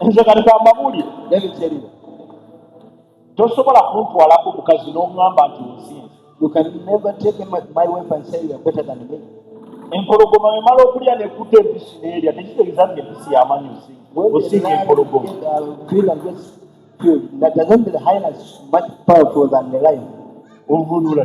nze kati kambabuulire nebikyerire tosobola kuntwalako mukazi n'oŋŋamba nti onsinza you can never take my, my wife and say you are better than me empologoma emala okulya nekutta empisi neerya tekitegeza nti empisi yamanyi osinga empologoma ovunula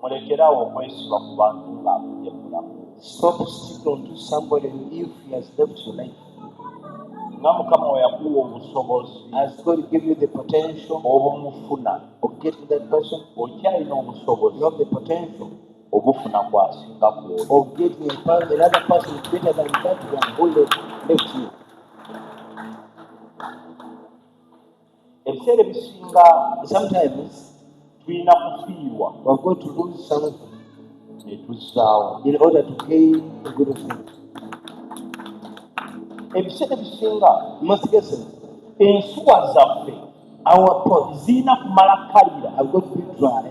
mulekerawo okwesiba ku bantu nga afunye mulamu nga mukama weyakuwa obusobozi obumufuna okyalina obusobozi obufuna kwasinga kwoyo ebiseera ebisinga sometimes tulina kufiirwa wago to lose something netuzaawo in order to gain a good thing ebiseera ebisinga masigese ensuwa zaffe our pot zirina kumala kalira ago to be dry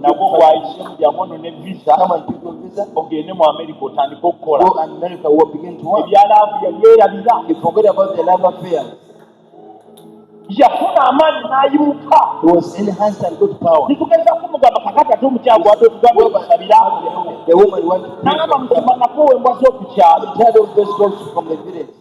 nagwo gwayisemu byamono ne visa ogende mu amerika otandike okukola ebyalaavu yabyerabira yafuna amaanyi n'ayimuka netugeza kumugamba kakati ate omukyago ate otugamba okusabira nagamba musaba nakowa embwa z'okukyalo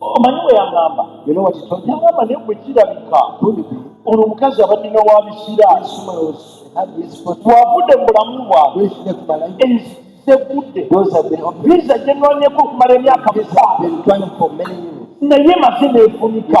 omanyi bwe yangamba yangamba naye bwe kirabika ono omukazi abadina wa bisira twavudde mu bulamu bwabwe enzizeguddevisa gyenonyeko okumala emyaka musanvu naye maze nefunika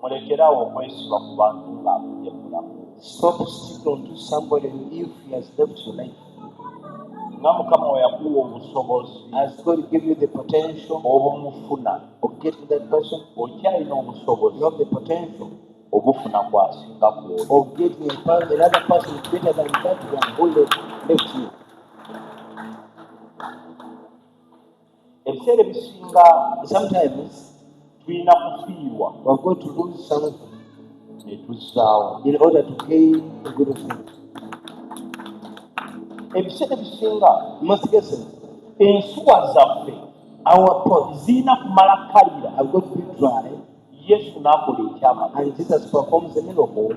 mulekerawo okwesiba ku bantu nga abudde mulamu nga mukama weyakuwa obusobozi obumufuna okyalina obusobozi obufuna kwasinga kwoyo ebiseera ebisinga sometimes tulina kufiirwa wago to lose something netuzaawo in order to gain a good thing ebiseera ebisinga masigese ensuwa zaffe awapo zirina kumala kalira ago to be dry yesu n'akola ekyama and jesus performs a miracle